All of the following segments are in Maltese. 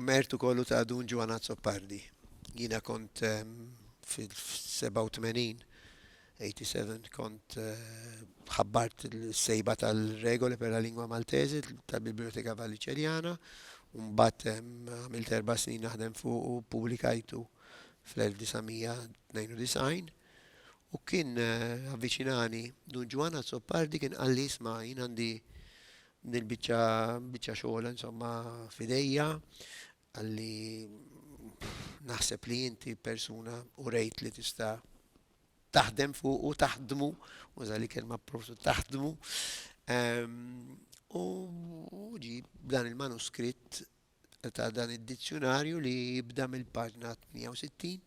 Mertu kollu ta' Dun Ġwann Azzopardi. Jiena kont fil-87, 87, kont ħabbart il-sejba tal-regoli per la lingua maltese tal-Biblioteka Valliċerjana, mbagħad għamilt erba' snin naħdem fuq u publikajtu fl-1992 u kien avviċinani Dun Ġwann Azzopardi kien qalli isma' jien għandi Din il-biċċa biċċa xogħol insomma f'idejja għalli naħseb li inti persuna u rejt li tista' taħdem fuq u taħdmu, u li kelma profsu taħdmu. Ehm, u ġi dan il-manuskritt ta' dan id-dizzjonarju li jibda mill-paġna 160,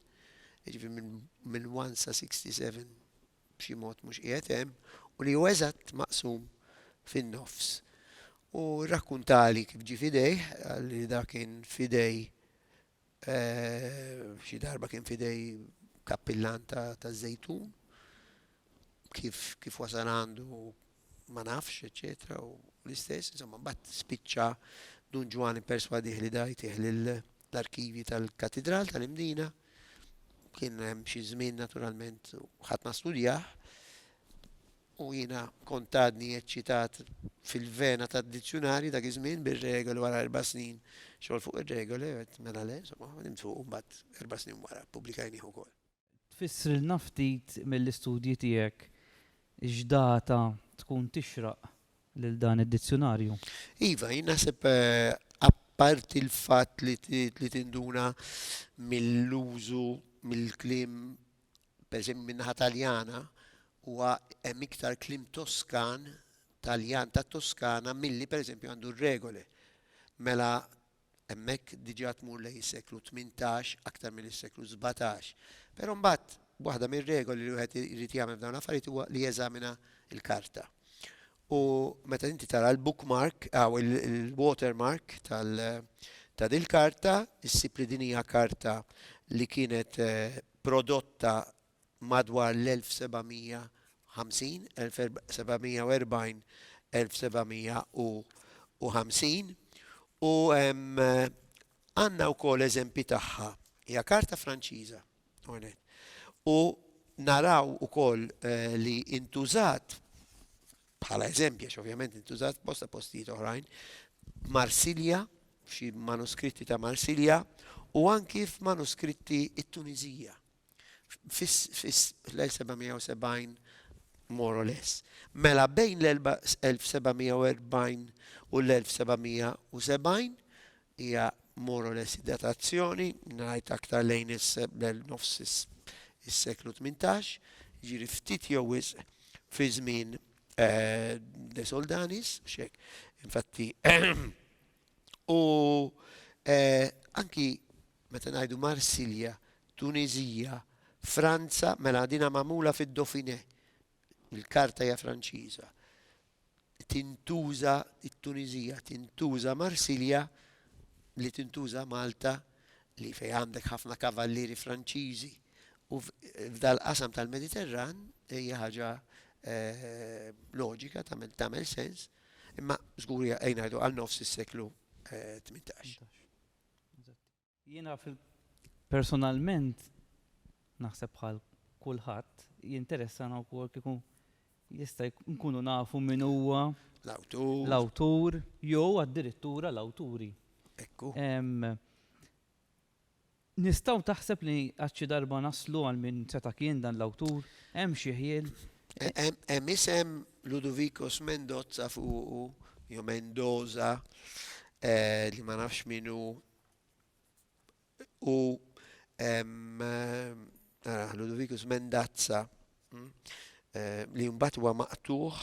ġifi minn 1 sa 67 b'xi mod mhux qiegħed hemm, u li hu eżatt maqsum fin-nofs. U rrakkuntali kif ġie f'idejh, qalli dak kien f'idej, xi darba kien f'idej kappillan taż-żejtun, kif wasal għandu ma nafx, eċċetera u l-istess, insomma, mbagħad spiċċa Dun Ġwann ipperswadih li da jtih lill-arkivji tal-Katidral tal-Imdina. Kien hemm xi żmien naturalment u ħadd ma studjah u jiena kontadni eċċitat fil-vena tad-dizzjunarji dak iż-żmien bir-regoli wara erba' snin xogħol fuq ir-regoli qed mela le, insomma, nimtu mbagħad erba' snin wara pubblikajnih ukoll. Tfissrilna ftit mill-istudji tiegħek x'data tkun tixraq lil dan id-dizzjunarju? Iva, jien naħseb apparti l-fatt li li tinduna mill-użu mill-kliem pereżempju min-naħa Taljana huwa hemm iktar kliem Toskan, Taljan tat-Toskana milli pereżempju għandu r-regole. Mela Hemmhekk diġà tmur lejn is-seklu tmintax aktar milli s-seklu sbatax. Però mbagħad waħda mir-regoli li wieħed irid jagħmel f'dawn l-affarijiet huwa li jeżamina l-karta. U meta inti tara l-bookmark, aw il-watermark tal ta' dil-karta, issib li din hija karta li kienet eh, prodotta madwar l-1750, 1740, 1750, u għandna wkoll eżempji tagħha. Hija karta Franċiża, għonet. U naraw ukoll eh, li intużat bħala eżempju, għax ovvjament intużat bosta postijiet oħrajn, Marsilja, f'xi manuskritti ta' Marsilja, u anki f'manuskritti it-Tunizija. fl-1770 more or less. Mela bejn l-1740 u l-1770 hija more or less datazzjoni, ngħid aktar lejn is-nofs is-seklu 18, ġiri ftit jew wisq fi żmien eh, De Soldanis, xek, infatti, u eh, anki Meta ngħidu Marsilja, Tuniżija, Franza, mela dinha magħmula fid-Dauphiné. Il-karta hija Franċiża. Tintuża t-Tuniżija, tintuża Marsilja li tintuża Malta li fejn għandek ħafna kavallieri Franċiżi u f'dal-qasam tal-Mediterran hija ħaġa eh, loġika tagħmel sens, imma żgur hija ngħidu għal nofs is-seklu 18. Eh, Jiena personalment naħseb bħal kulħadd jinteressana wkoll kieku jista' nkunu nafu min huwa l-awtur jew addirittura l-awturi. Ekku. Nistgħu taħseb li għad xi darba naslu għal min seta' kien dan l-awtur? Hemm xi ħjiel? Hemm isem Ludovicos Mendozza fuqu, jew Mendoza, eh, li ma nafx minnu. U nara, Ludovicus Mendazza, mm, eh, li mbagħad huwa maqtuħ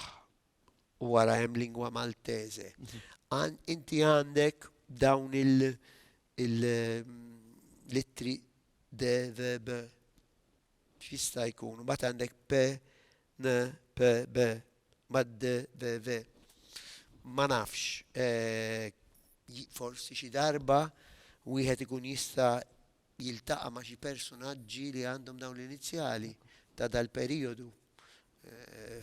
u wara hemm lingwa Maltese. Għan- Inti għandek dawn il- il- mm, litri de verb X'jista' jkun? Mbagħad għandek p, n, p, b, ma d, v, v. Ma nafx. Forsi xi darba wieħed ikun jista' jiltaqa' ma' xi personaġġi li għandhom dawn l-inizjali ta' dal-perijodu.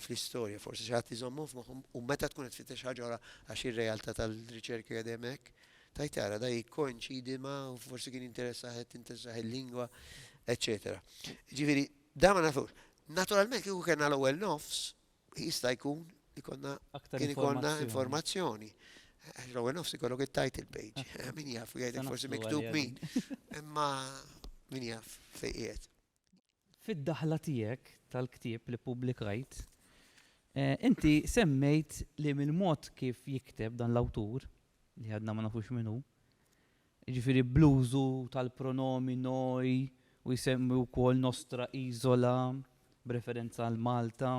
fl-istorja, forsi xi ħadd iżommhom f'moħħhom u meta tkun qed tfittex ħaġa oħra għax ir-realtà tal-riċerka qiegħda hemm hekk, tajt tara da jikkoinċidi ma' u forsi kien jinteressah qed tinteressah il-lingwa, eċċetera. Ġifieri, da ma nafux. Naturalment kieku kellna l-ewwel nofs, jista' jkun li konna Aktar kien ikollna informazzjoni. informazzjoni. Għax L-ewwel nofs ikollok it-title page. Min jaf, jgħidlek forsi Sanaflu miktub għalija. min. Imma min jaf fejn qiegħed. Fid-daħla tiegħek tal-ktieb li ppubblikajt, inti semmejt li mill-mod kif jikteb dan l-awtur, li għadna ma nafux min hu, jiġifieri bl-użu tal-pronomi noi u jsemmi wkoll nostra isola b'referenza għal Malta,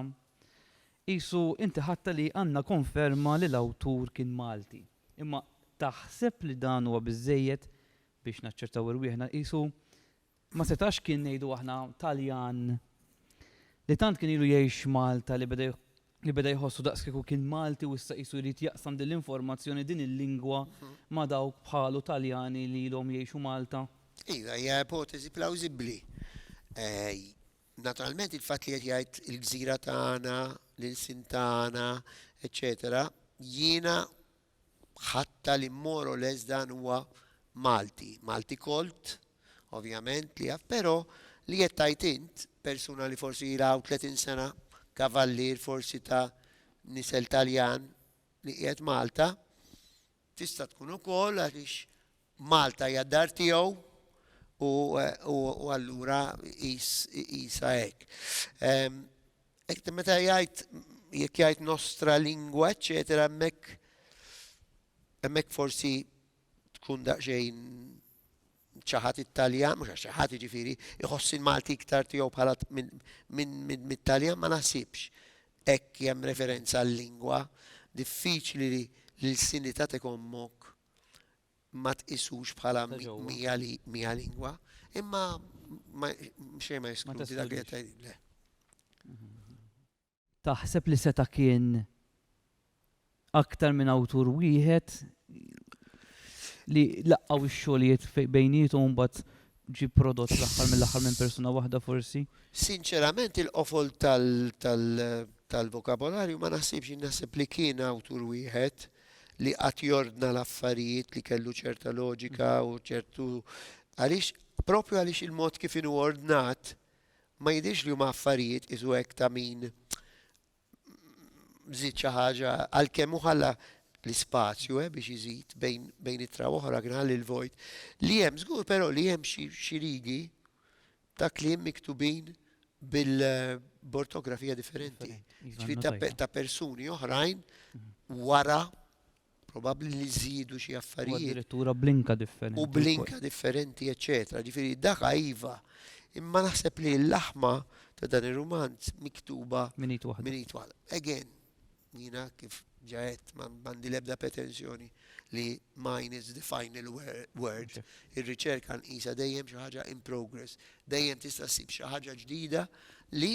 qisu inti ħadtha li għandna konferma li l-awtur kien Malti. Imma taħseb li dan huwa biżżejjed biex naċċertaw irwieħna? Qisu Ma setax kien ngħidu aħna Taljan li tant kien ilu jgħix f'Malta li beda li beda jħossu daqskieku kien Malti u issa qisu jrid jaqsam din l-informazzjoni, din il-lingwa ma' dawk bħalu Taljani li ilhom jgħixu Malta? Iva, hija ipoteżi plawżibbli. Naturalment il-fatt li qed jgħid il-gżira tagħna, l-ilsien tagħna, eċċetera, jiena ħatta li more or less dan huwa Malti, Malti Colt, ovvjament li jaf, però li qed tgħid int, persuna li forsi ilha hawn 30 sena, kavallier forsi ta' nisel Taljan li qiegħed Malta, tista' tkun ukoll għaliex Malta hija d-dar tiegħu u allura qisha hekk. Hekk meta jgħid jekk jgħid nostra lingwa, eċetera, hemmhekk hemmhekk forsi tkun daqsxejn ċaħat it-Taljan, mhux għax ċaħat jiġifieri, iħossi l-Malti iktar tiegħu bħala minn Taljan ma naħsibx hekk hemm referenza għal lingwa diffiċli li l-sinità tekommok ma tqisux bħala mija lingwa, imma xejn ma jeskludi dak li qed le. Taħseb li seta' kien aktar minn awtur wieħed li laqgħu x-xogħlijiet bejnietom mbagħad ġi prodott l-aħħar mill-aħħar minn persuna waħda forsi? Sinċerament il-qofol tal-vokabolarju ma naħsibx naħseb li kien awtur wieħed li qatt jordna l-affarijiet li kellu ċerta loġika u ċertu għaliex propju għaliex il-mod kif inhu ordnat ma jidhirx li huma affarijiet isu hekk ta' min żid xi ħaġa għalkemm hu ħalla l-ispazju eh, biex iżid bejn, bejn itra oħra kien ħalli l-vojt. Li hemm żgur però li hemm xi rigi ta' kliem miktubin bil-bortografija differenti. Ġifieri ta' pe- ta' persuni oħrajn wara probabbli li żiedu xi U affarijiet addirittura blinka differenti. u blinka differenti, eċċetera. Ġifieri daka iva. Imma naħseb li l-laħma ta' dan ir-rumanz miktuba Minn id waħda. minn id waħda. Again, Jiena kif ġa għedt m'għandi l-ebda pretensjoni li mine is the final word. Ir-riċerka nqisha dejjem xi ħaġa in progress. Dejjem tista' ssib xi ħaġa ġdida li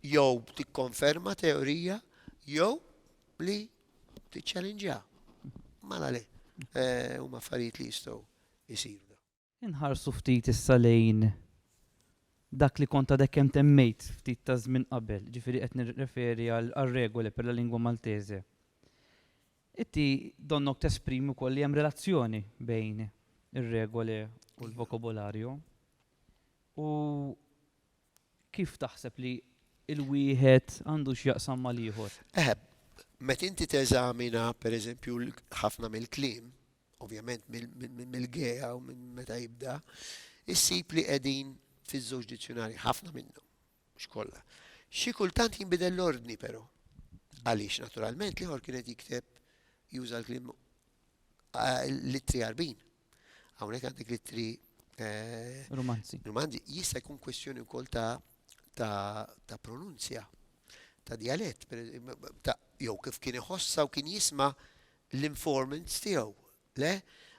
jew tikkonferma teorija jew li tiċċalinġjaha. Mala le, huma affarijiet li jistgħu jsiru. Inħarsu ftit issa lejn dak li kont għadek kemm temmejt ftit ta' żmien qabel, jiġifieri qed nirreferi għar-Regole per la lingua maltese. Inti donnok tesprimi wkoll li hemm relazzjoni bejn ir-Regole u l-Vocabolario. U kif taħseb li l-wieħed għandu x'jaqsam mal-ieħor? Eħe, meta inti teżamina, pereżempju, ħafna mill-kliem, ovvjament mill-gea u minn meta jibda, issib li qegħdin fiż-żewġ dizzjunarji, ħafna minnhom, mhux kollha. Xi kultant jinbidel l-ordni però. Għaliex naturalment l-ieħor kien qed jikteb juża l-kliem l-ittri għarbin. Hawnhekk għandek l-ittri eh, Rumanzi. Rumanzi jista' jkun kwestjoni wkoll ta' ta' pronunzja, ta' dialett, ta' jew kif kien iħossa u kien jisma' l-informants tiegħu, le?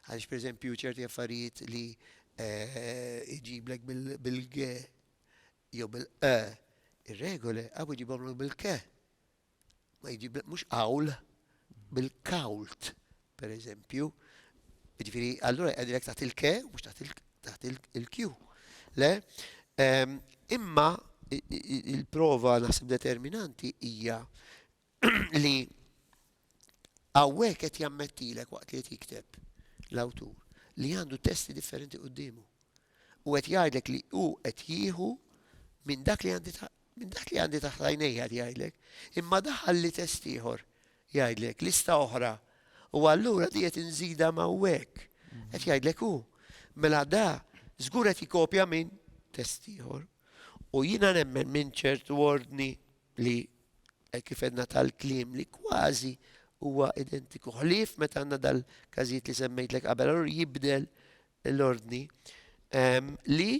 Għaliex pereżempju ċerti affarijiet li jġiblek bil-ge jew bil-qe ir-regoli hawn iġibhomlok bil-ke. Ma jġiblek mhux qawl bil-kawlt, pereżempju. Jiġifieri allura qegħdilek taħt il-ke mhux taħt il-kju. Le? Imma il-prova naħseb determinanti hija li hawnhekk qed jammettilek waqt li qed jikteb l-awtur li għandu testi differenti quddiemu. U qed jgħidlek li hu qed jieħu minn dak li għandi minn dak li għandi taħt għajnejja jgħidlek, imma daħal li test ieħor jgħidlek lista oħra u allura di qed inżida ma' hekk. Qed jgħidlek hu. Mela da żgur qed jikopja minn test ieħor. U jiena nemmen minn ċertu ordni li hekk kif għedna tal-kliem li kważi huwa identiku ħlief meta għandna dal-każijiet li semmejtlek qabel, allura jibdel l-ordni ehm, li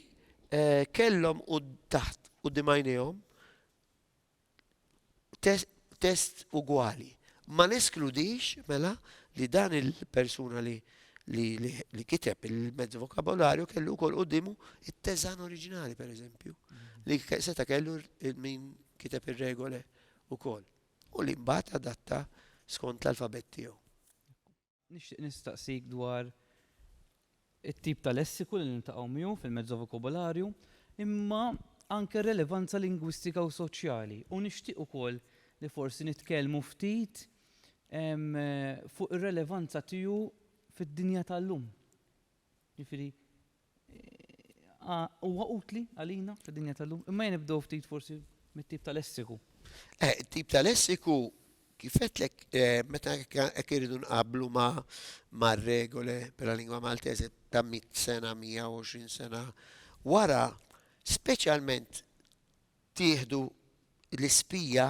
eh, kellhom u taħt u dimajnejhom test ugwali. Ma neskludix mela li dan il-persuna li li kiteb il-mezz vokabolarju kellu wkoll quddiemu it-teżan oriġinali pereżempju, mhm. li seta' kellu min kiteb ir-regole wkoll. U li mbagħad adatta skont l-alfabet tiegħu. Nixtieq nistaqsik dwar it-tip ta' lessiku li nintaqgħu miegħu fil-mezzo vokabolarju, imma anke relevanza lingwistika u soċjali. U nixtieq ukoll li forsi nitkellmu ftit fuq ir-relevanza tiegħu fid-dinja tal-lum. Jiġifieri huwa utli għalina fid-dinja tal-lum, imma jien nibdew ftit forsi mit-tip ta' lessiku. Eh, tip ta' lessiku kif qedlek eh, meta hekk iridu nqablu ma' regole bħala lingwa Maltese ta' 100 sena, 120 sena wara, speċjalment tieħdu l-ispija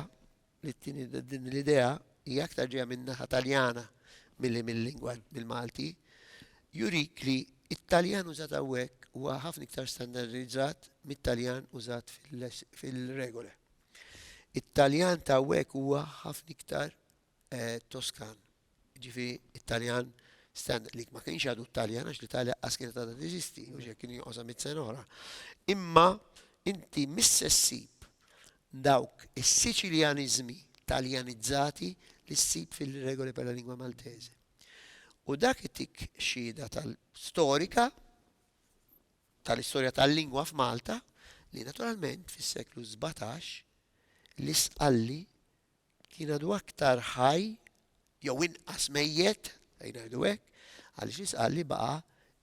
It-tieni, din l-idea hija aktar ġejja min-naħa Taljana milli mil-lingwa, mill-Malti, jurik li t-Taljan użat hawnhekk huwa ħafna iktar standardizzat mit-Taljan użat fil-Regole. It-Taljan ta' hawnhekk huwa ħafna iktar Toskan Jiġifi it-Taljan standard li ma kienx għadu t-Taljan għax l-Italja qas kienet għadha teżisti, u xek kien joqosha mit sena oħra. Imma inti mis-sessib dawk is-Siċiljanizmi Taljanizzati li ssib fil-regoli per la lingua maltese. U dak itik xhieda tal-storika tal-istorja tal-lingwa f'Malta li naturalment fis-seklu 17 l-isqalli Kien għadu aktar ħaj jew inqas mejjet, ejja ngħidu hekk, għaliex jistqarr li baqa'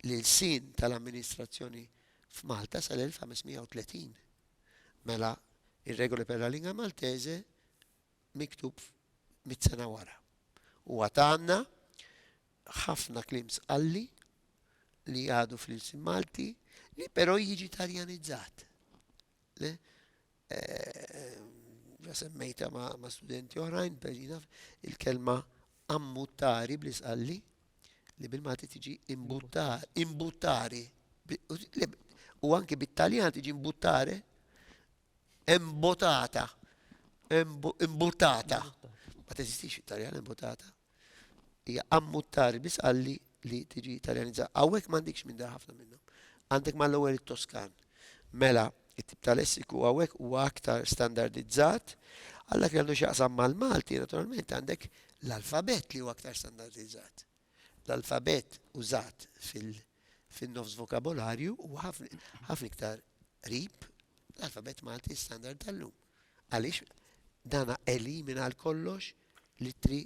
l-ilsien tal-amministrazzjoni f'Malta sal-1530. Mela, ir-Regole per la lingua maltese miktub mitt sena wara. U għad għandna ħafna kliem sqalli li għadu fl-ilsien Malti li però jiġi Taljanizzat. Le, ġa semmejta ma' studenti oħrajn, perina il-kelma ammuttari bl-isqalli li bil-mati tiġi imbuttari, imbuttari, u anki bit-Taljan tiġi imbuttare, imbotata, imbuttata, ma teżistix it-Taljan imbuttata, Hija ammuttari biss qalli li tiġi Taljanizza. Hawnhekk m'għandikx minn dar ħafna minnhom. Għandek mal-ewwel it-Toskan. Mela, it-tip ta' lessiku hawnhekk huwa aktar standardizzat. Għal dak li għandu x'jaqsam mal-Malti, naturalment għandek l-alfabett li huwa aktar standardizzat. L-alfabett użat fin-nofs vokabolarju huwa ħafna iktar qrib l-alfabett Malti standard tal-lum. Għaliex dan elimina għal kollox l-ittri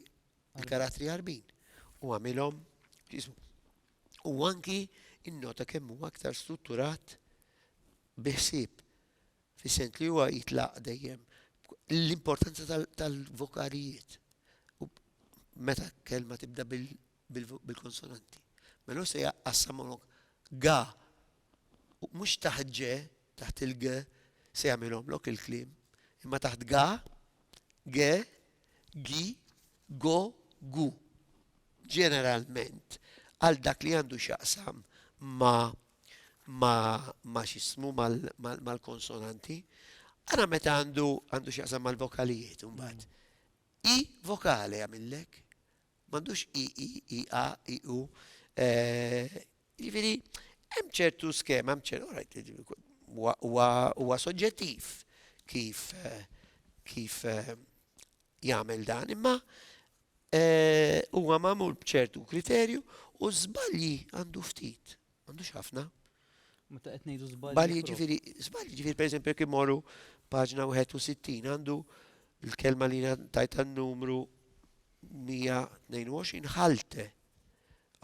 l-karattri għarbin u għamilhom u anki innota kemm huwa aktar strutturat biħsib fis-sent li huwa jitlaq dejjem l-importanza tal-vokalijiet. Meta kelma tibda bil-konsonanti. Mela hu se jgħaqqas sa mlok ga u mhux taħt ġe, taħt il-ge se jagħmilhomlok il-kliem, imma taħt ga, ge, gi, go, gu. Ġeneralment għal dak li għandu x'jaqsam ma ma ma x'ismu mal-konsonanti, ara meta għandu għandu x'jaqsam mal-vokalijiet imbagħad. I vokali għamillek, M'għandux i, i, i, a, i, u. Jiġifieri hemm ċertu skema, hemm ċertu orajt huwa soġġettiv kif kif jagħmel dan, imma huwa magħmul b'ċertu kriterju u żbalji għandu ftit. M'għandux ħafna. Meta qed ngħidu żbalji. Żbalji ġifieri, żbalji ġifieri pereżempju jekk imorru paġna 61 għandu l-kelma li tajt numru 122 ħalte.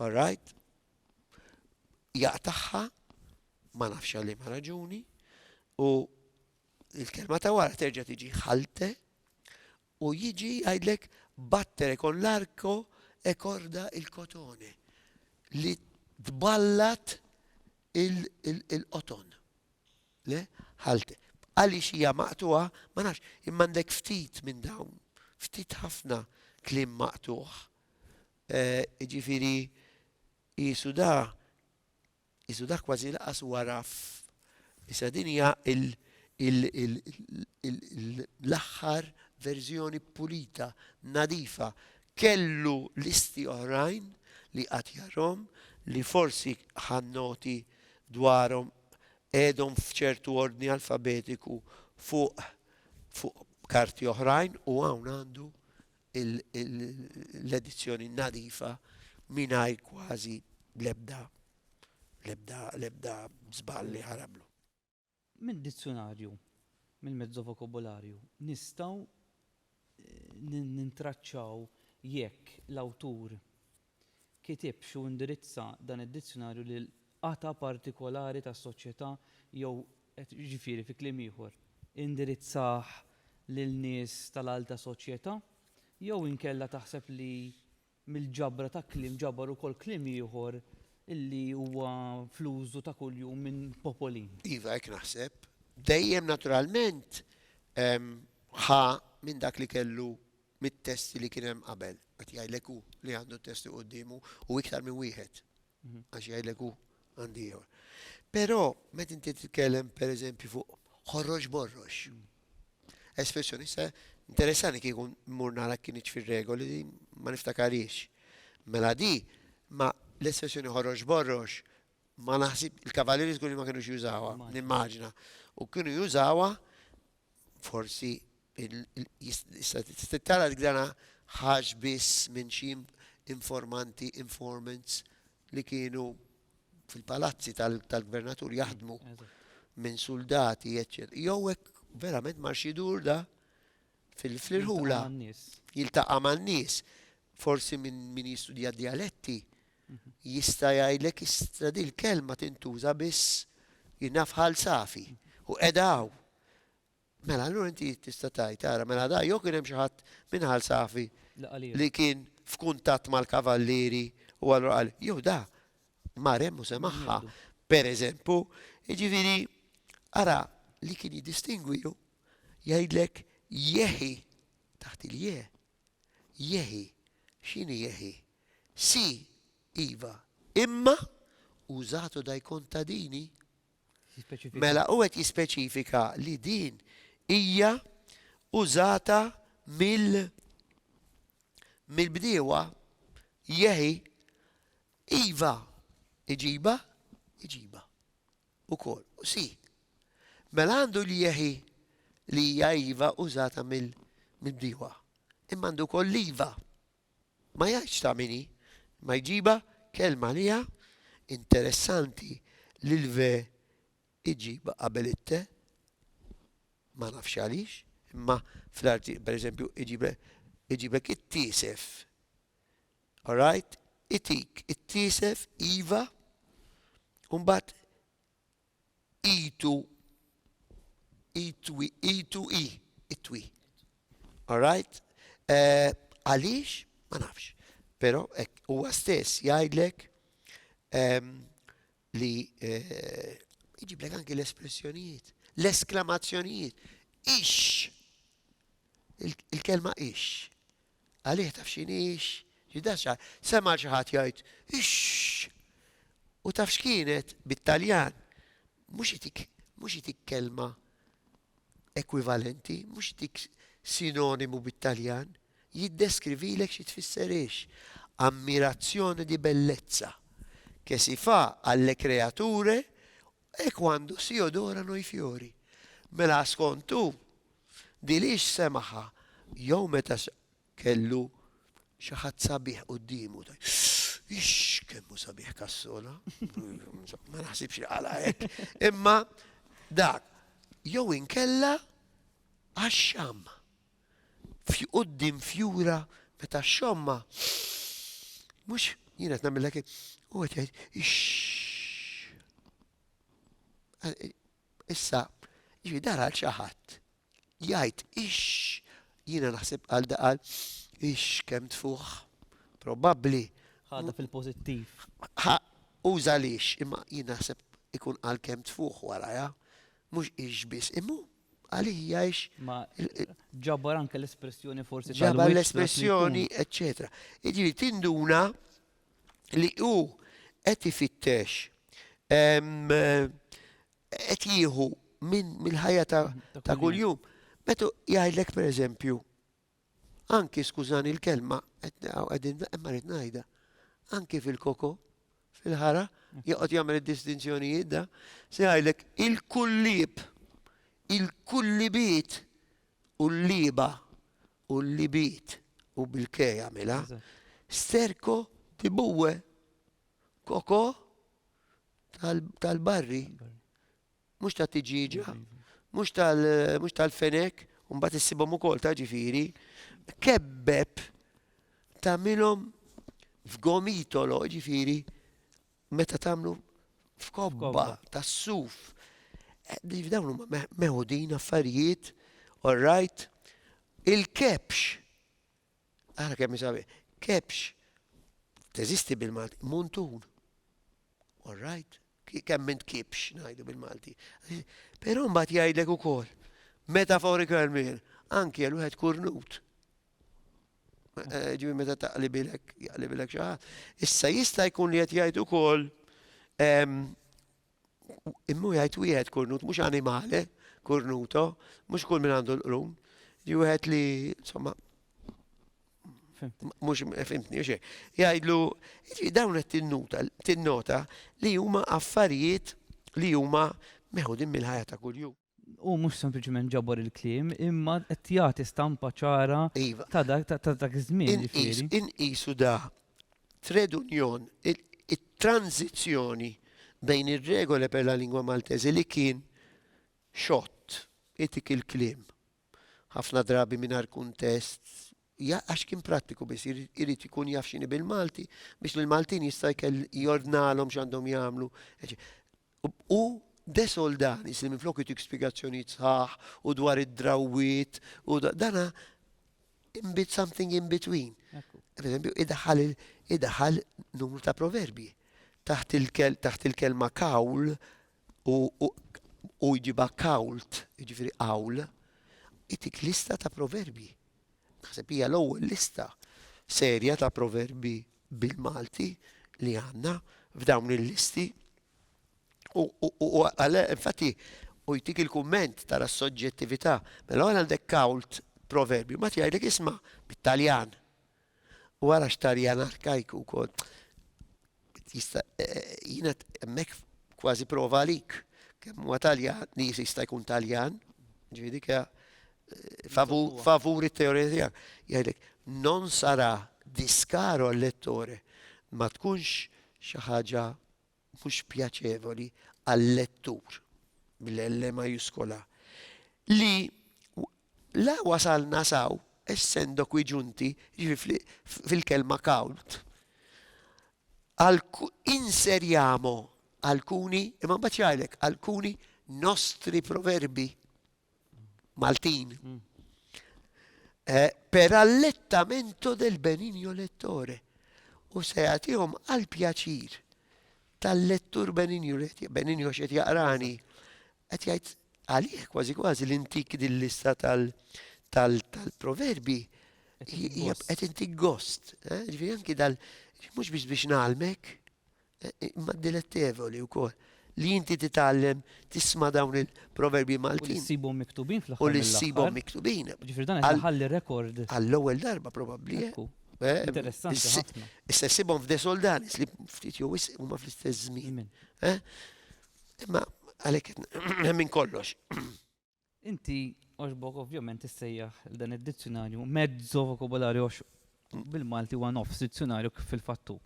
Alright? Jaqtaħħa ma nafx għalli ma raġuni u il-kelma ta' wara terġa' tiġi ħalte U jiġi jgħidlek battere con l'arco e corda il cotone, li tballat il-qoton. Le? Ħalt. Għaliex hija maqtugħa, ma nafx, imma għandek ftit minn dawn, ftit ħafna kliem maqtugħ. Jiġifieri qisu da Qisu dak kważi laqas huwa raf. Issa din hija l-aħħar verżjoni pulita, nadifa. Kellu listi oħrajn li qatt jarhom li forsi ħa noti dwarhom qegħedhom f'ċertu ordni alfabetiku fuq fuq karti oħrajn u hawn għandu l-edizzjoni nadifa mingħajr kważi l-ebda l-ebda l-ebda żball li ħarablu. Mid-dizzjunarju, mill-mezzo vokabularju, nistgħu nintraċċaw jekk l-awtur kitibx u indirizza dan id-dizzjonarju lil qatgħa partikolari tas-soċjetà jew qed jiġifieri fi kliem ieħor, indirizzah lil nies tal-alta soċjetà, jew inkella taħseb li mill-ġabra ta' kliem ġabar ukoll kliem ieħor li huwa fl-użu ta' kuljum minn popolin? Iva, hekk naħseb. Dejjem naturalment ħa minn dak li kellu mit-test li kien hemm qabel. Qed jgħidlek hu li għandu t-test quddiemu u iktar minn wieħed. Għax jgħidlek hu għandi ieħor. Però meta inti titkellem pereżempju fuq ħorrox borrox. Espressjoni se interessani kieku mmur nara kien fir-regoli ma niftakariex. Mela di ma l-espressjoni ħorrox borrox Ma naħsib, il-kavalieri żgur li ma kienux jużawha, nimmaġina. U kienu jużawha forsi tara l-gdana ħax biss minn xi informanti, informants li kienu fil-palazzi tal-gvernatur jaħdmu minn soldati, eccetera. Jew hekk verament marx jidur da fil-irħula, jiltaqa' man-nies. Forsi minn min jistudja d-djaletti jista' jgħidlek issa din il-kelma tintuża biss jiena f'Ħal Safi u qiegħda hawn. Mela allura inti tista' tgħid ara mela da jew kien hemm xi ħadd minn Ħal Safi li kien f'kuntatt mal-kavallieri u allura qal jew da mar hemm u semagħha, pereżempju. Jiġifieri ara li kien jiddistingwi hu Jgħidlek Jehi, taħt il-je, Jehi. X'inhi Jehi? Si, iva, imma użatu dajkun ta' dini? Mela hu qed jispeċifika li din hija użata mill mill-bdiewa Jehi. Iva, iġibha, iġibha. ukoll. U si. Mela għandu l-jehi li hija iva użata mill-bdiewa. Imma għandu wkoll l-iva. Ma jgħidx ta' min hi, imma jġibha kelma li hija interessanti li l-ve iġibha qabel it-te, ma nafx għaliex, imma fl-arti, pereżempju, iġibha iġiblek it-tiesef. Alright itik it-tiesef iva u mbagħad itu itwi itu i itwi. Alright? Eh, għaliex? Ma nafx. Però hekk huwa stess jgħidlek ehm, li jġiblek anki l-espressjonijiet, l-esklamazzjonijiet. Ix! Il-kelma ix. Għalih taf xin ix, ġidaxa, sema xaħat jgħid ix! U taf x'kienet bit-Taljan, mhux itik, mhux itik kelma ekwivalenti, mhux dik sinonimu bit-Taljan, jiddeskrivilek xi tfisser hix, ammirazione di bellezza, che si fa alle creature e quando si odorano i fiori. Mela skont hu, din hix semaħha jew meta Kellu xi ħadd sabiħ quddiemu. Ix, kemm hu sabiħ Cassola. Ma naħsibx li qala hekk. Imma dak jew inkella għax-xam. Qudiem fjura meta x-xomma mhux jien qed nagħmilek u qed jgħid ix. Issa, jiġri dara xi ħadd jgħid ix jiena naħseb għal daqal ix kemm tfuħ probabbli ħadha fil-pożittiv. Ħa uża lix imma jien naħseb ikun għal kemm tfuħ waraja mhux ix biss imma għalija ix. Ma ġabar anke l-espressjoni forsi ġabar l-espressjoni, eccetera. Iġifieri tinduna li hu qed ifittex ehm, qed jieħu minn mill-ħajja ta' ta' kuljum. Meta jgħidlek pereżempju, anki skużani l-kelma, qed naqgħu qegħdin imma rrid ngħidha, anki fil-koko, fil-ħara, joqgħod jagħmel id-distinzjonijiet da, se jgħidlek il-kullib, il-kullibiet u l-liba u l-libit u bil-ke jagħmilha. Eżatt. Sterco di buwe. koko tal-barri, mhux ta' tiġiġa, mhux tal-fenek, u mbagħad issibhom ukoll ta' ġifieri, kebbeb tagħmilhom f'gomitolo, ġifieri meta tagħmlu f'kobba tas-suf. Eh, dawn huma meħudin affarijiet, all right, il-kepx Ara kemm hi sabiħa. Kebx. Teżisti bil-Malti. Muntun. All right. Kemm minn kibx ngħidu bil-Malti. Però mbagħad jgħidlek ukoll metaforicalment anki għal wieħed kurnut. Eh, ġibi meta taqlibilek, jaqlibilek xi ħadd. Issa jista' jkun li qed jgħid ukoll ehm, Immu jgħid wieħed kurnut mhux animale, kurnuto, mhux kull min għandu l-qrun. Ġi wieħed li, insomma, mux fimtni, xie. Jajdlu, dawn qed tinnota, tinnota li huma affarijiet li huma meħudin mill-ħajja ta' kuljum. Hu mhux sempliċement ġabor il-kliem, imma qed jagħti stampa ċara iva. ta' dak ta' dak iż-żmien. Inqisu da tred union it-tranzizzjoni bejn ir-regole per la lingua maltese li kien xott itik il-kliem ħafna drabi mingħajr kuntest għax kien prattiku biss irid ikun jaf x'inhi bil-Malti biex l-Maltin jista' jkell jordnalhom x'għandhom jagħmlu. U De Soldanis li minflok itik spjegazzjonijiet sħaħ u dwar id-drawwiet u dana in bit something in between. Per eżempju, idaħħal idaħħal numru ta' proverbji. Taħt il-kel taħt il-kelma kawl u u jġiba kawlt, jiġifieri kawl, itik lista ta' proverbji. Naħseb hija l-ewwel lista serja ta' proverbi bil-Malti li għandna f'dawn il-listi. U għale, infatti, u jtik il-kumment tara s-soġġettività, mela għal għandek kawlt proverbi, ma tjajdek isma bit-Taljan. U għara xtarjan arkajku kod. Jista' jiena hemmhekk kważi prova għalik. Kemm huwa Taljan, li jista' jkun Taljan, ġifieri kja favur it-teorija tiegħek. Jgħidlek non sarà discaro al lettore ma tkunx xi ħaġa mhux pjaċevoli għal-lettur bl-L majuskola li La wasalna s'hawn, essendo qui giunti, jiġifieri fil-kelma count, inseriamo alcuni, imma mbagħad jgħidlek alcuni nostri proverbi Maltin per allettamento del benigno lettore, u se jagħtihom għall-pjaċir tal-lettur Beninju, Beninju għax qed jaqrani, qed jgħid għalih kważi kważi l-intik din lista tal-proverbi qed intik gost, eh? ġifieri anki dal mhux biex biex nagħlmek, eh, imma dilettevoli wkoll li inti titgħallem tisma' dawn il-proverbi Maltin. U li ssibhom miktubin fl-aħħar. U li ssibhom miktubin. Ġifieri dan qed rekord. Għall-ewwel darba probabbli. Eh? Eh, Interessanti ħafna. Issa sibhom f'de soldanis li ftit jew wisq huma fl-istess żmien. Eh? Imma għalhekk minn kollox. Inti għoxbok ovvjament issejjaħ dan id-dizzjonarju mezzo vokabularju bil-Malti huwa nofs dizzjonarju kif fil-fattu.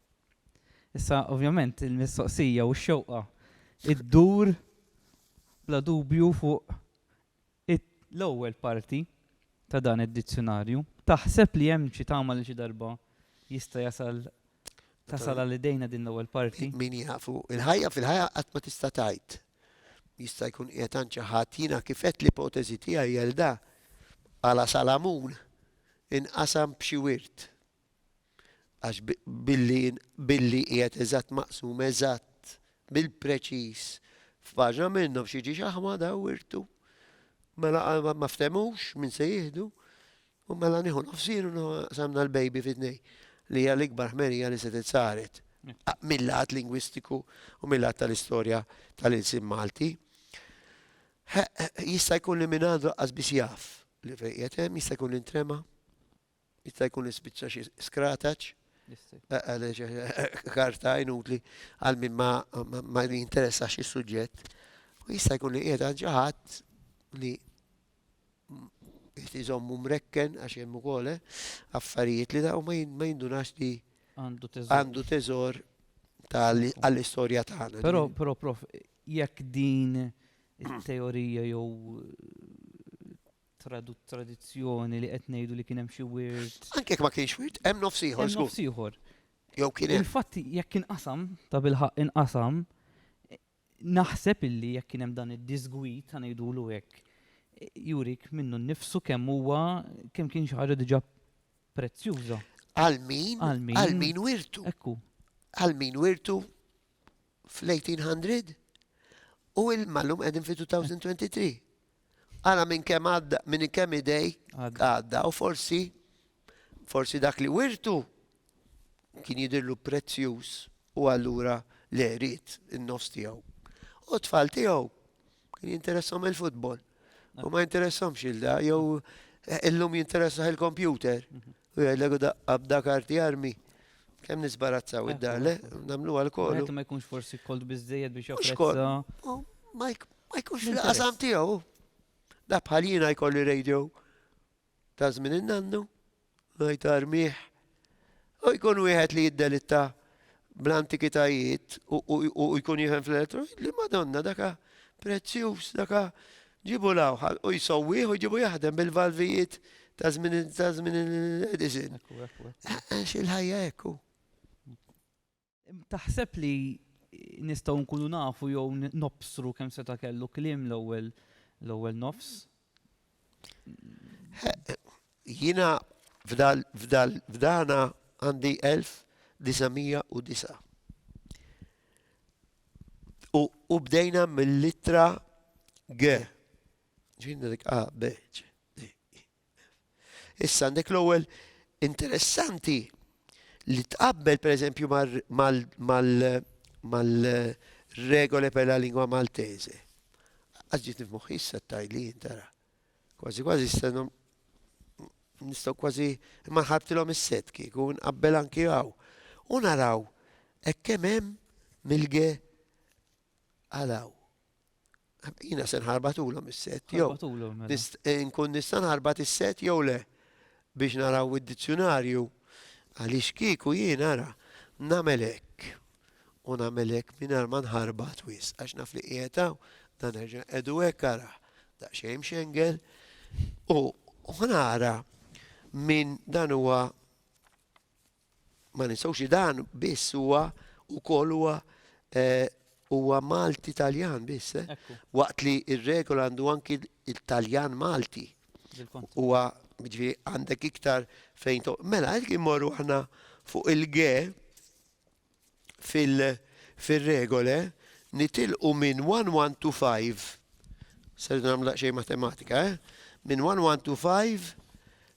Issa ovvjament il-mistoqsija u x-xewqa id-dur bla dubju fuq It, L-ewwel parti ta' dan id-dizzjunarju, taħseb li hemm xi tama li xi darba jista' jasal, tasal għal idejna din l-ewwel parti? Min jaf, u l-ħajja fil-ħajja qatt ma tista' tgħid. Jista' jkun qiegħed għand xi ħadd. Jiena kif għedt l-ipoteżi tiegħi għel da, għala Salamun inqasam b'xi wirt. Għax billi billi qiegħed eżatt maqsum eżatt bil-preċiż f'paġna minnhom xi ġiex aħma da wirtu. Mela ma ftemux min se jieħdu u mela nieħu nofsin u samna l-baby fit-tnej li hija l-ikbar ħmerija li se titsaret mill-lat lingwistiku u mill-lat tal-istorja tal-insim Malti. Jista' jkun li minn għandu qasbis jaf li fejn hemm jista' jkun intrema. Jista' jkun li spiċċa xi skrataċ, karta inutli għal min ma jinteressax is-suġġett. U jista' jkun li qiegħed għal xi ħadd li jtiżommu mrekken għax hemm ukoll eh, affarijiet li daw ma jindunax li għandu teżor għall-istorja tagħna. Però, però, prof, jekk din it-teorija jew tradut tradizzjoni li qed ngħidu li kien hemm xi wirt. Anke jekk ma kienx wirt, hemm nofs ieħor. Hemm nofs ieħor. Jew kien hemm. Il-fatt jekk inqasam, ta' bilħaq inqasam, naħseb illi jekk kien hemm dan id-disgwit ta' ngħidulu hekk, jurik minnu nnifsu kemm huwa kemm kien xi ħaġa diġà prezzjuża. Għal min? Għal min wirtu? Ekku. Għal min wirtu? fl-1800 u ilma llum qegħdin fi 2023. Ara minn kemm għadda, minn kemm idej għadda u forsi forsi dak li wirtu kien jidirlu prezzjuż u allura le rrit in-nofs tiegħu. U tfal tiegħu Kien jinteressom il-futbol. U ma jinteressomx il-da, jew eh, illum jinteressaħ il-kompjuter. Mhm. U jgħidlek da abda karti armi. Kem nisbarazzaw id-dar, le? Namlu għal-kol. Ma jkunx forsi kolt bizzejed biex jafrezza. Ma jkunx l-qasam tiegħu. Da bħal jiena jkolli radio Ta' żmien in-nannu, ngħid Għarmigħ, u jkun wieħed li jiddelitta bl-antikitajiet u jkun jifhem fl-elettroni, li madonna daka prezzjuż, daka ġibu lawħal u jsowwieħ u ġibu jaħdem bil-valvijiet ta' żmien Edison. Xil-ħajja ekku. Taħseb li nistgħu nkunu nafu jew nobsru kemm seta' kellu kliem l-ewwel nofs? Jiena f'dana għandi 1909. U bdejna mill-ittra G. Ġifieri dik A, B, C, D, E. Issa għandek l-ewwel interessanti li tqabbel pereżempju mal-regole per la lingua maltese. Għax ġiet nifmuħ issa tajli jintara. Kważi kważi stenu nistgħu kważi ma ħabtilhom is-set kieku nqabbel anki hawn. U naraw hekk kemm hemm milge Araw. Jiena se nħarbatulhom is-set jew Ħarbatulhom mela. nist- eh, nkun nista' nħarbat is-set jew le biex naraw id-dizzjunarju għaliex kieku jien ara nagħmel hekk u nagħmel hekk mingħajr ma nħarbat wis għax naf li qiegħed hawn dan nerġa' nqegħdu hekk ara daqsxejn mxengel u u nara minn dan huwa ma ninsawx li dan biss huwa ukoll huwa eh, huwa Malti Taljan biss. Eh? Waqt li ir-regola għandu anki il-Taljan Malti. Huwa ġifieri għandek iktar fejn to. Mela qed immorru aħna fuq il-ge fil-regole nitilqu minn 1 to 5. Serdu nagħmlu xejn matematika, eh? Minn 1 to 5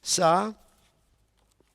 sa'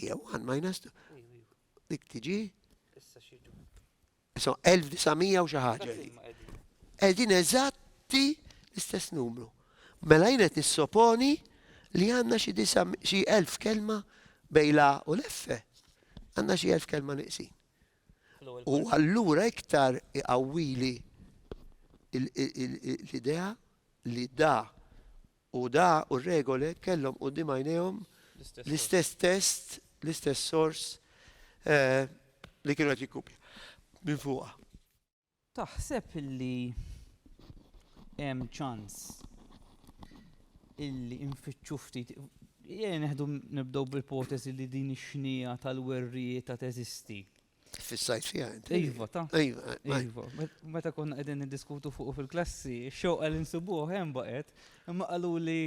Ija 1 minus 2. Dik tiġi. Issa xiġu. Issa 1900 u xi ħaġa. Qegħdin eżatti l-istess numru. Mela jien qed nissoponi li għandna xi 1000 kelma bejla u l-effe. Għandna xi 1000 kelma niqsin. u allura iktar iqawwili l-idea li da u da u r-regole kellhom quddiem għajnejhom l-istess test, l-istess sors li kienu qed jikkupja minn fuqha. Taħseb li hemm ċans illi nfittxu ftit Ejja neħdu nibdew bl-ipoteżi li din ix-xnigħa tal-werrieta teżisti. Fissajt fiha inti. Iva, ta. Iva, eh, iva. Meta konna qegħdin niddiskutu fuq fil-klassi, xewqa li nsibuh hemm baqgħet, imma qalu li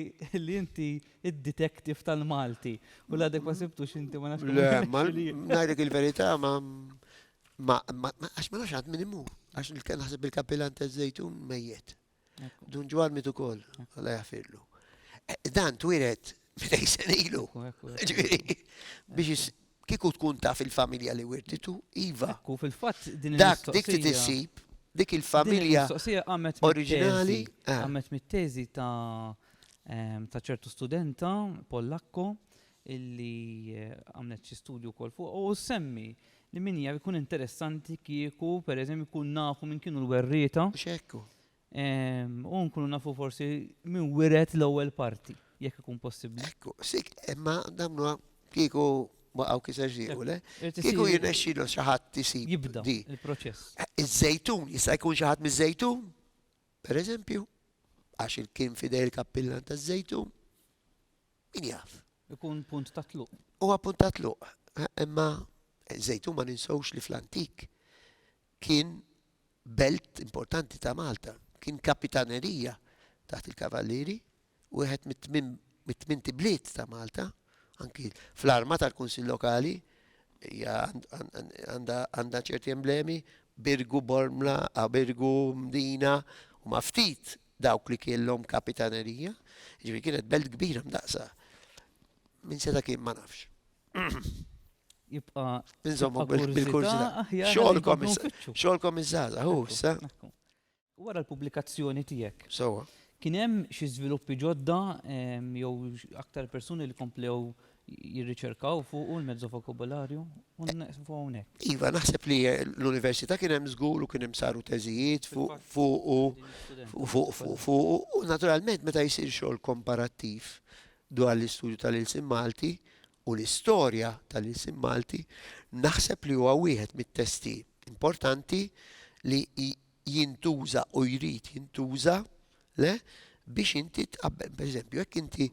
li inti id-detektiv tal-Malti u l-għadek ma sibtux inti ma nafx. Le, ngħidlek il-verità ma Ma, ma, ma, għax ma nafx għad min imur. Għax il- naħseb il-kapilan ta' zejtun mejjet. Ekku, Dun ġwar mitu kol, għalla jafirlu. Dan twiret minn ejsen ilu. ekku, ekku, ekku. Ġviri, biex is- kiku tkun taf il-familja li wirtitu, Iva, Ekku, fil-fatt din dak dik il-mistoqsija- titissib, dik Din il-familja. il-mistoqsija qamet oriġinali, mit-teżi. ah. Qamet mit-teżi ta' em, ta' ċertu studenta Pollakko illi għamlet xi studju wkoll fuqha u ssemmi li min jaf ikun interessanti kieku pereżempju nkun nafu minn kienu l-werrieta. Mhux hekk hu. Ehm, u nkunu nafu forsi minn wiret l-ewwel parti, jekk ikun possibbli. Ekku, sik, imma damnu kieku waqgħu kiser ġiequ, le? Irid Kieku isir- jirnexxilu xi ħadd isib Jibda di. il-proċess. Iż-żejtun, jista' jkun xi ħadd miż-żejtun, pereżempju, għax il- kien fidej il-kappillan taż-żejtun. Min jaf? Ikun punt ta' tluq. Huwa punt ta' tluq. Imma Żejtun ma ninsewx li fl-antik kien belt importanti ta' Malta. Kien kapitanerija taħt il-Kavallieri, wieħed mit-tmint ibliet ta' Malta, anki fl-arma tal-Kunsill Lokali hija għandha ċerti emblemi, Birgu, Bormla, Birgu, Mdina, huma ftit Dawk li kienlhom kapitanerija, ġifieri kienet belt kbira mdaqsa. Min seta' kien ma nafx. Jibqa' Inżommu bil-kurzita. Xogħolkom xogħolkom iż-żgħażagħ, hu issa. Wara l-pubblikazzjoni tiegħek. Sewwa. Kien hemm xi żviluppi ġodda jew aktar persuni li komplew jirriċerkaw fuqu l-mezzo vokabularju u neqfu hawnhekk. Iva, naħseb li l-università kien hemm żgur u kien hemm saru teżijiet fuq fuqu fuq fuqu u naturalment meta jsir xogħol komparattiv dwar l-istudju tal-ilsien Malti u l-istorja tal-ilsien Malti, naħseb li huwa wieħed mit-testi importanti li jintuża u jrid jintuża, le, biex inti tqabbel, per eżempju, jekk inti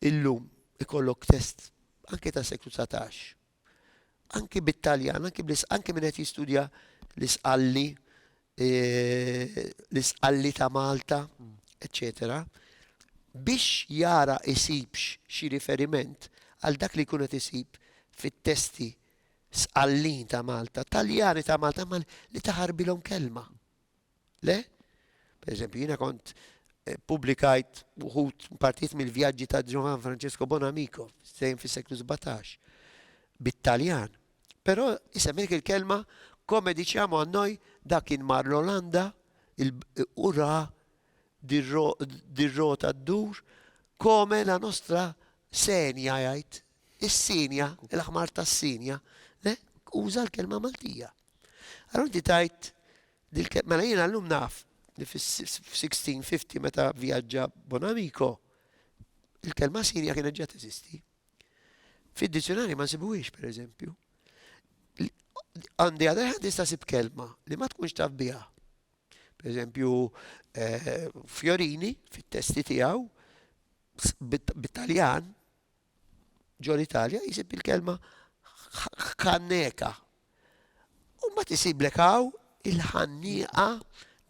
illum ikollok test anke ta' seklu 19, anke bit-Taljan, anke bl anke minn qed jistudja l-isqalli, e, l-isqalli ta' Malta, eccetera, biex jara isibx xi riferiment għal dak li jkun qed isib fit-testi Sqallin ta' Malta, Taljani ta' Malta, ma li taħarbilhom kelma. Le? Per eżempju, jiena kont eh, publikajt uħut partijiet mill-vjaġġi ta' Ġohan Francesco Bonamico, sejn fis-seklu 17, bit-Taljan. Però isemmek il-kelma come diciamo a noi dak kien mar l-Olanda u ra dir-rota d-dur come la nostra senja jgħid is-sinja, il-ħmar tas-sinja, le, uża l-kelma Maltija. Allura inti tajt dil-kelma, mela jiena llum naf li fis-1650 meta vjaġġa Bonamico, il-kelma sinja kienet ġa teżisti. Fid-dizzjonarju ma nsibuhiex, per eżempju. Għandi għadha ħad nista' sib kelma li ma tkunx taf biha. Per eżempju, eh, Fiorini fit-testi tiegħu bit-Taljan ġo l-Italja jsib il-kelma ħanneka. U mbagħad isiblek hawn il-ħannieqa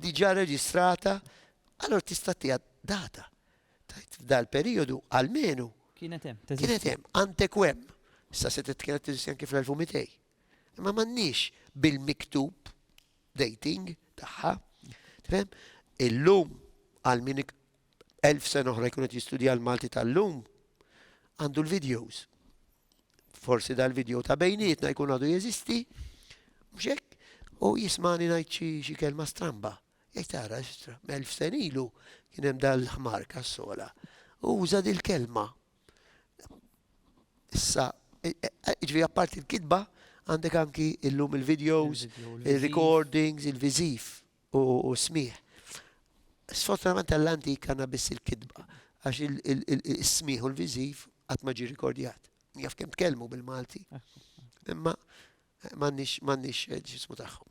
diġà reġistrata allora tista' tiegħha data. Tajt dal-perjodu almenu kienet hemm. Kienet hemm antekwem. Issa se titkellem tiżi anke fl-1200. Imma m'għandniex bil-miktub dating tagħha. Tifhem? Illum għal min elf sena oħra jkun qed jistudja l-Malti tal-lum, għandu l-videos. Forsi dal-video ta' bejnietna jkun għadu jeżisti, mhux hekk? U jismani ngħid xi kelma stramba. Jgħid tara xtra, elf sen ilu kien hemm dal-ħmar kassola. U uża dil-kelma. Issa, e, e, e, ġvi apparti l-kitba, għandek anki illum il-videos, il-recordings, il-vizif. u s-smigħ. Sfortunatament għall-antik għandna biss il-kitba għax is-smigħ u l-viżiv qatt ma ġie rikordjat. Jaf kemm tkellmu bil-Malti, imma m'għandniex ġismu tagħhom.